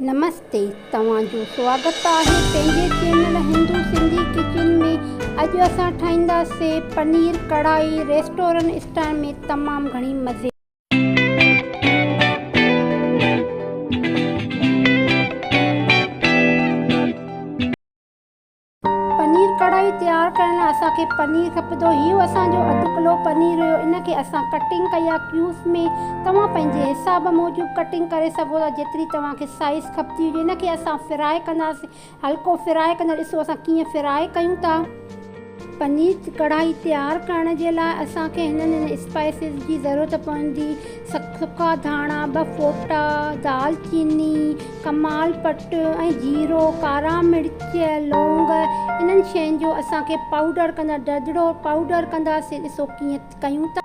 نمستي توهان جو سواگت آهي پنهنجي چينل هندو سنڌي ڪچن ۾ اڄ اسان ٺاهيندا سي پنير ڪڙهائي ريسٽورنٽ اسٽائل ۾ تمام گهڻي مزي پنير ڪڙهائي تيار ڪرڻ لاء اسان کي پنير کپندو. هي اسان جو اڌ ڪلو پنير هيو. ان کي اسان ڪٽنگ ڪئي آهي ڪيوبس ۾. توهان پنهنجي حساب موجب ڪٽنگ ڪري سگهو ٿا جيتري توهان کي سائيز کپندي هجي. ان کي اسان فرائي ڪنداسين. هلڪو فرائي ڪندي ڏسو اسان ڪيئن فرائي ڪيون ٿا. پنير ڪڙهائي تيار ڪرڻ جي لاء اسان کي هنن هنن اسپائسز جي ضرورت پوندي. سڪا ڌاڻا، ٻه ڦوٽا دال چيني، ڪمال پٽ ۽ جيرو، ڪارا مرچ، لونگ انهن شين جو اسان کي پائوڊر ڪندڙ دڙدڙو پائوڊر ڪنداسين ڏسو ڪيئن ڪيون ٿا.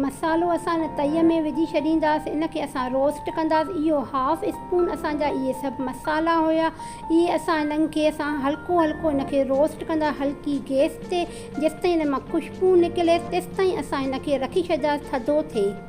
مصالحو اسان ان تئي ۾ وجهي ڇڏينداسين ان کي اسان روسٽ ڪنداسين اهو هاف اسپون اسان جا اهي سڀ مصالحا هيا اهي اسان انهن کي اسان هلڪو هلڪو ان کي روسٽ ڪندا هلڪي گيس تي جيستائين ان مان خوشبو نڪليس تيستائين اسان ان کي رکي ڇڏينداسين ٿڌو ٿئي.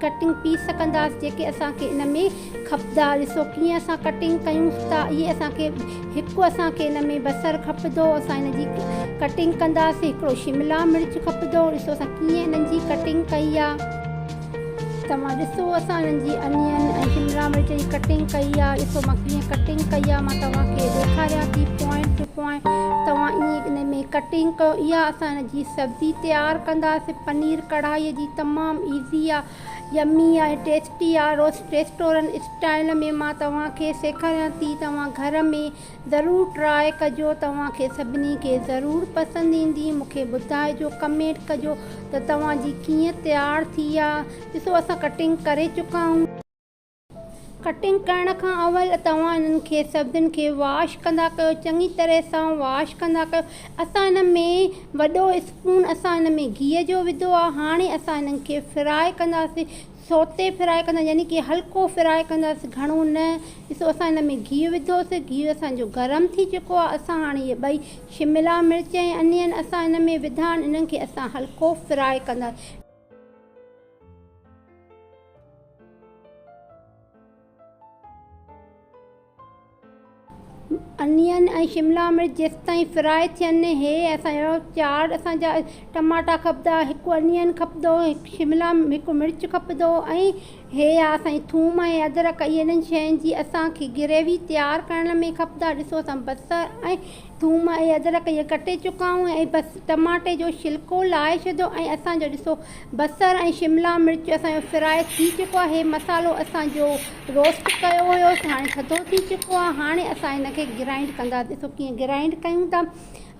ڪٽنگ پيس ڪنداس جيڪي اسان کي ان ۾ کپدا ڏسو ڪيئن اسان ڪٽنگ ڪيون ٿا اهي اسان کي هڪ اسان کي ان ۾ بصر کپدو اسان ان جي ڪٽنگ ڪنداس هڪڙو شملا مرچ کپدو ڏسو اسان ڪيئن انهن جي ڪٽنگ ڪئي آ توهان ڏسو اسان انهن جي انين ۽ شملا مرچ جي ڪٽنگ ڪئي آ ڏسو مان ڪيئن ڪٽنگ ڪئي آ مان توهان کي ڏيکاريان ٿي پوائنٽ ٽو پوائنٽ توهان ايئن ان ۾ ڪٽنگ ڪيو اها اسان جي سبزي تيار ڪنداسين پنير ڪڙهائي جي تمام ايزي آ يمي آ ۽ ٽيسٽي آ ريسٽورنٽ اسٽائل ۾ مان توهان کي سيکاريان ٿي توهان گهر ۾ ضرور ٽرائي ڪجو توهان کي سڀني کي ضرور پسند ايندي مونکي ٻڌائجو ڪمينٽ ڪجو ته توهان جي ڪيئن تيار ٿي آ ڏسو اسان ڪٽنگ ڪري چڪا آهيون. ڪٽنگ ڪرڻ کان اول توهان انهن کي سبزين کي واش ڪندا ڪيو چڱي طرح سان واش ڪندا ڪيو اسان ان ۾ وڏو اسپون اسان ان ۾ گيهه جو وڌو آهي هاڻي اسان انهن کي فراء ڪنداسين سوٽي فراء ڪندا يعني ڪي هلڪو فراء ڪنداسين گهڻو نه ڏسو اسان ان ۾ گيهه وڌوسي گيهه اسان جو گرم ٿي چڪو آهي اسان هاڻي اهي ٻئي شملا مرچ ۽ انين اسان ان ۾ وڌا آهن انهن کي اسان هلڪو فراء ڪنداسين انين ۽ شملا مرچ جيستائين فرائي ٿين هي اسان جو چار اسان جا ٽماٽا کپندا هڪ انين کپندو هڪ شملا هڪ مرچ کپندو ۽ هي آ سائين ٿوم ۽ ادرڪ اهي انهن شين جي اسان کي گريوي تيار ڪرڻ ۾ کپندا ڏسو اسان بصر ۽ ٿوم ۽ ادرڪ اهي ڪٽي چڪا آهيون ۽ بس ٽماٽي جو شلڪو لاهي شڌو ۽ اسان جو ڏسو بصر ۽ شملا مرچ اسان جو فرائي ٿي چڪو آهي هي مصالحو اسان جو روسٽ ڪيو هيو سو هاڻي ٿڌو ٿي چڪو آهي هاڻي اسان هن کي گرائنڊ ڪندا ڏسو ڪيئن گرائنڊ ڪيون ٿا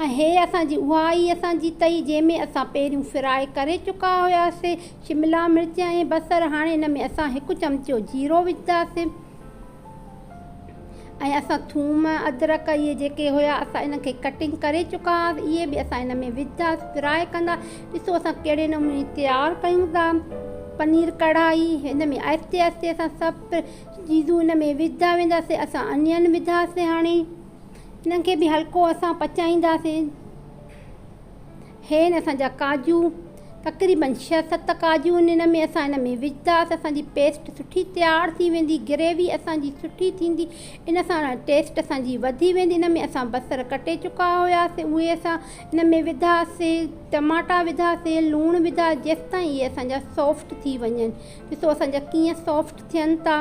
۽ هي اسان جي اها آهي اسان جي تئي جنهن ۾ اسان پهريون فرائي ڪري چڪا هياسي شملا مرچ ۽ بصر هاڻي ان ۾ اسان هڪ چمچو جيرو وجهنداسين ۽ اسان ٿوم ادرڪ اهي جيڪي هيا اسان انهن کي ڪٽنگ ڪري چڪا هئاسين اهي به اسان ان ۾ وجهنداسين فرائي ڪندا ڏسو اسان ڪهڙي نموني تيار ڪيون ٿا پنير ڪڙهائي ان ۾ آهستي آهستي اسان سڀ چيزون ان ۾ وجهندا وينداسين اسان انيون وجهنداسين هاڻي انهن کي به هلڪو اسان پچائينداسين هين اسان جا ڪاڄو تقريبن ڇهه ست ڪاڄو ان ان ۾ اسان ان ۾ وجهداس اسان جي پيسٽ سٺي تيار ٿي ويندي گريوي اسان جي سٺي ٿيندي ان سان ٽيسٽ اسان جي وڌي ويندي ان ۾ اسان بصر ڪٽي چڪا هياسي اهي اسان ان ۾ وڌاسي ٽماٽا وڌاسي لوڻ وڌا جيستائين اهي اسان جا سافٽ ٿي وڃن ڏسو اسان جا ڪيئن سافٽ ٿين ٿا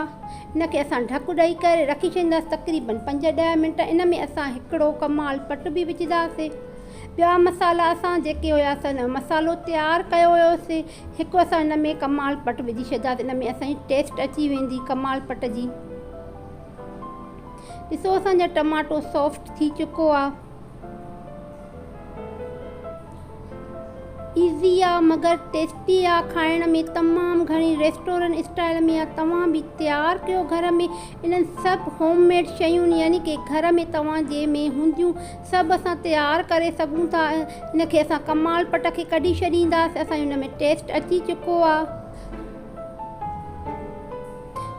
ان کي اسان ڍڪ ڏئي ڪري رکي ڇڏينداسي تقريبن پنج ڏهه منٽ ان ۾ اسان هڪڙو ڪمال پٽ به وجهداسي ٻيا مصالحا اسان جيڪي هيا سن مصالحو تيار ڪيو هيوسي هڪ اسان ان ۾ ڪمال پٽ وجهي ڇڏياسي ان ۾ اسان جي ٽيسٽ اچي ويندي ڪمال پٽ جي ڏسو اسان جا ٽماٽو سافٽ ٿي چڪو آ ايزي آ مگر ٽيسٽي آ کائڻ ۾ تمام گهڻي ريسٽورنٽ اسٽائل ۾ آ توهان به تيار ڪيو گهر ۾ انهن سڀ هوم ميڊ شيون يعني ڪي گهر ۾ توهان جي ۾ هونديون سڀ اسان تيار ڪري سگهون ٿا ان کي اسان ڪمال پٽ کي ڪڍي ڇڏينداس اسان جو ان ۾ ٽيسٽ اچي چڪو آ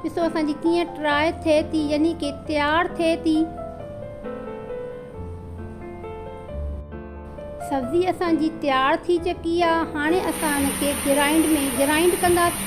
ڏسو اسان جي ڪيئن ٽراء ٿئي ٿي يعني ڪي تيار ٿئي ٿي سبزي اسان جي تيار ٿي چڪي آ هاڻي اسان ان کي گرائنڊ ۾ گرائنڊ ڪنداس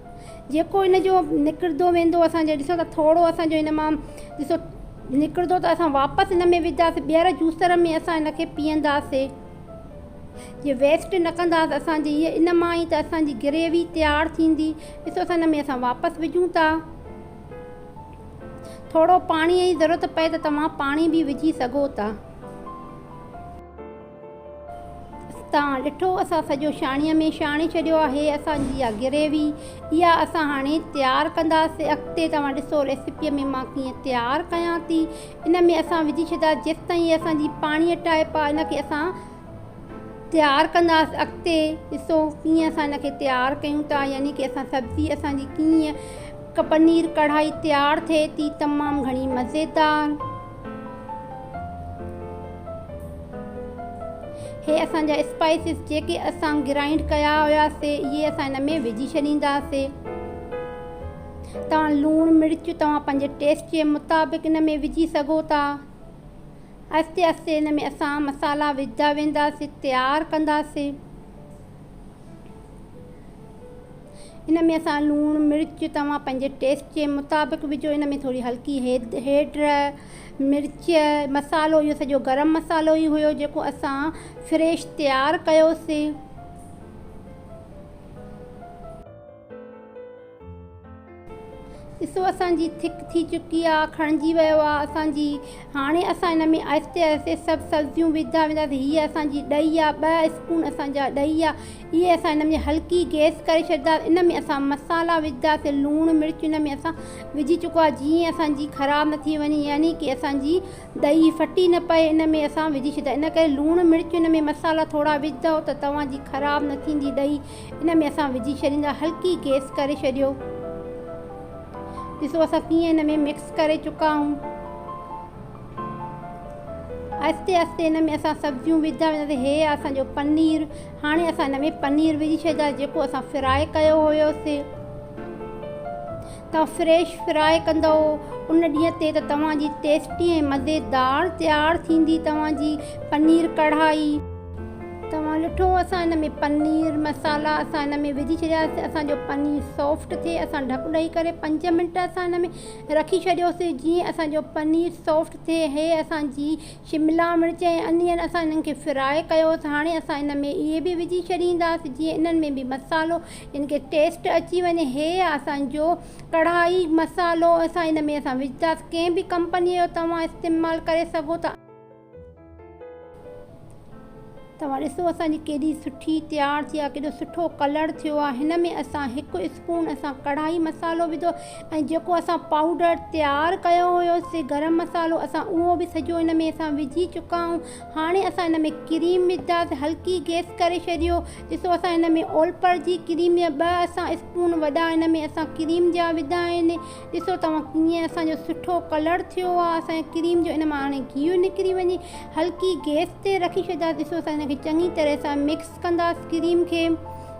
جيڪو ان جو نڪرندو ويندو اسان جي ڏسو ته ٿورو اسان جو ان مان ڏسو نڪرندو ته اسان واپس ان ۾ وجهنداسي ٻيهر جوسر ۾ اسان ان کي پيهنداسي جي ويسٽ نه ڪنداسي اسان جي هيء ان مان ئي ته اسان جي گريوي تيار ٿيندي ڏسو اسان ان ۾ اسان واپس وجهون ٿا ٿورو پاڻيء جي ضرورت پئي ته توهان پاڻي به وجهي سگهو ٿا. تان ڏٺو اسان سڄو شاڻيء ۾ شاڻي ڇڏيو آهي اسان جي اها گريوي اها اسان هاڻي تيار ڪنداسين اڳتي توهان ڏسو ريسيپيء ۾ مان ڪيئن تيار ڪيان ٿي ان ۾ اسان وجهي ڇڏيا جيستائين هي اسان جي پاڻيء ٽائپ آهي ان کي اسان تيار ڪنداسين اڳتي ڏسو ڪيئن اسان ان کي تيار ڪيون ٿا يعني ڪي اسان سبزي اسان جي ڪيئن پنير ڪڙهائي تيار ٿئي ٿي تمام گهڻي مزيدار. هي اسان جا اسپائسز جيڪي اسان گرائنڊ ڪيا هيا سي اهي اسان هن ۾ وجهي ڇڏيندا سي توهان لوڻ مرچ توهان پنهنجي ٽيسٽ جي مطابق ان ۾ وجهي سگهو ٿا آهستي آهستي ان ۾ اسان مصالحا وجهدا ويندا سي تيار ڪندا سي ان ۾ اسان لوڻ مرچ توهان پنهنجي ٽيسٽ جي مطابق وجهو ان ۾ ٿوري هلڪي هيڊ مرچ مصالحو اهو سڄو گرم مصالحو ئي هيو جيڪو اسان فريش تيار ڪيوسين. ڏسو اسان جي ٿڪ ٿي چڪي آ، کڻجي ويو آ اسان جي، هاڻي اسان ان ۾ آهستي آهستي سڀ سبزيون وجهندا وينداسين، هيء اسان جي ڏهي آ، ٻه اسپون اسان جا ڏهي آ، اهي اسان ان ۾ هلڪي گيس ڪري ڇڏينداسين، ان ۾ اسان مصالا وجهنداسين، لوڻ مرچ ان ۾ اسان وجهي چڪو آ، جيئن اسان جي خراب نه ٿي وڃي، يعني ڪي اسان جي ڏهي ڦٽي نه پئي، ان ۾ اسان وجهي ڇڏيندا، ان ڪري لوڻ مرچ ان ۾ مصالا ٿورا وجهندؤ ته توهان جي خراب نه ٿيندي ڏهي. ان ۾ اسان وجهي ڇڏيندا هلڪي گيس ڪري ڇڏيو ڏسو اسان ڪيئن ان ۾ مڪس ڪري چڪا آهيون آهستي آهستي ان ۾ اسان سبزيون وجهندا وينداسين هي آهي اسان جو پنير هاڻي اسان ان ۾ پنير وجهي ڇڏيندا جيڪو اسان فرائي ڪيو هيوسين توهان فريش فرائي ڪندو ان ڏينهن تي ته توهان جي ٽيسٽي ۽ مزيدار تيار ٿيندي توهان جي پنير ڪڙهائي توهان ڏٺو اسان ان ۾ پنير مصالحا اسان ان ۾ وجهي ڇڏياسين اسان جو پنير سافٽ ٿئي اسان ڍڪ ڏئي ڪري 5 منٽ اسان ان ۾ رکي ڇڏيوسي جيئن اسان جو پنير سافٽ ٿئي هي اسان جي شملا مرچ ۽ انين اسان انهن کي فرائي ڪيوس هاڻي اسان ان ۾ اهي به وجهي ڇڏينداسين جيئن انهن ۾ به مصالحو ان کي ٽيسٽ اچي وڃي هي اسان جو ڪڙهائي مصالحو اسان ان ۾ اسان وجهنداسين ڪنهن به ڪمپني جو توهان استعمال ڪري سگهو ٿا. توهان ڏسو اسان جي ڪيڏي سٺي تيار ٿي آهي ڪيڏو سٺو ڪلر ٿيو آهي هن ۾ اسان هڪ اسپون اسان ڪڙهائي مسالو وڌو ۽ جيڪو اسان پائوڊر تيار ڪيو هيو سي گرم مسالو اسان اهو به سڄو ان ۾ اسان وجهي چڪا آهيون هاڻي اسان ان ۾ ڪريم وجهنداسي هلڪي گيس ڪري ڇڏيو ڏسو اسان ان ۾ اولپر جي ڪريم يا ٻه اسان اسپون وڏا ان ۾ اسان ڪريم جا وڌا آهن ڏسو توهان ڪيئن اسان جو سٺو ڪلر ٿيو آهي اسان جي ڪريم جو ان مان هاڻي گيهه نڪري وڃي هلڪي گيس تي رکي ڇڏيندا ڏسو اسان ان کي چڱي طرح سان مڪس ڪنداس ڪريم کي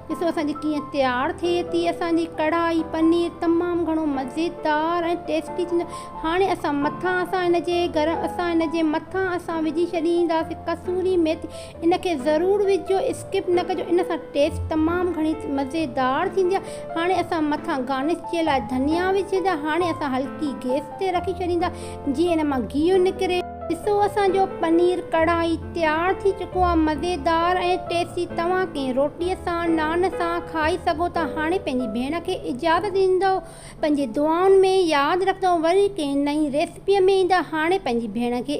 ڏسو اسان جي ڪيئن تيار ٿئي ٿي اسان جي ڪڙهائي پنير تمام گهڻو مزيدار ۽ ٽيسٽي ٿيندو هاڻي اسان مٿان اسان ان جي گرم اسان ان جي مٿان اسان وجهي ڇڏينداسين ڪسوري ميٿي ان کي ضرور وجهجو اسڪپ نه ڪجو ان سان ٽيسٽ تمام گهڻي مزيدار ٿيندي آهي هاڻي اسان مٿان گارنش جي لاء ڌنيا وجهندا هاڻي اسان هلڪي گيس تي رکي ڇڏيندا جيئن ان مان گيهه نڪري. ڏسو اسان جو پنير ڪڙهائي تيار ٿي چڪو آهي مزيدار ۽ ٽيسٽي توهان ڪنهن روٽي سان نان سان کائي سگهو ٿا هاڻي پنهنجي ڀيڻ کي اجازت ڏيندو پنهنجي دعائن ۾ ياد رکندو وري ڪنهن نئين ريسپي ۾ ايندا هاڻي پنهنجي ڀيڻ کي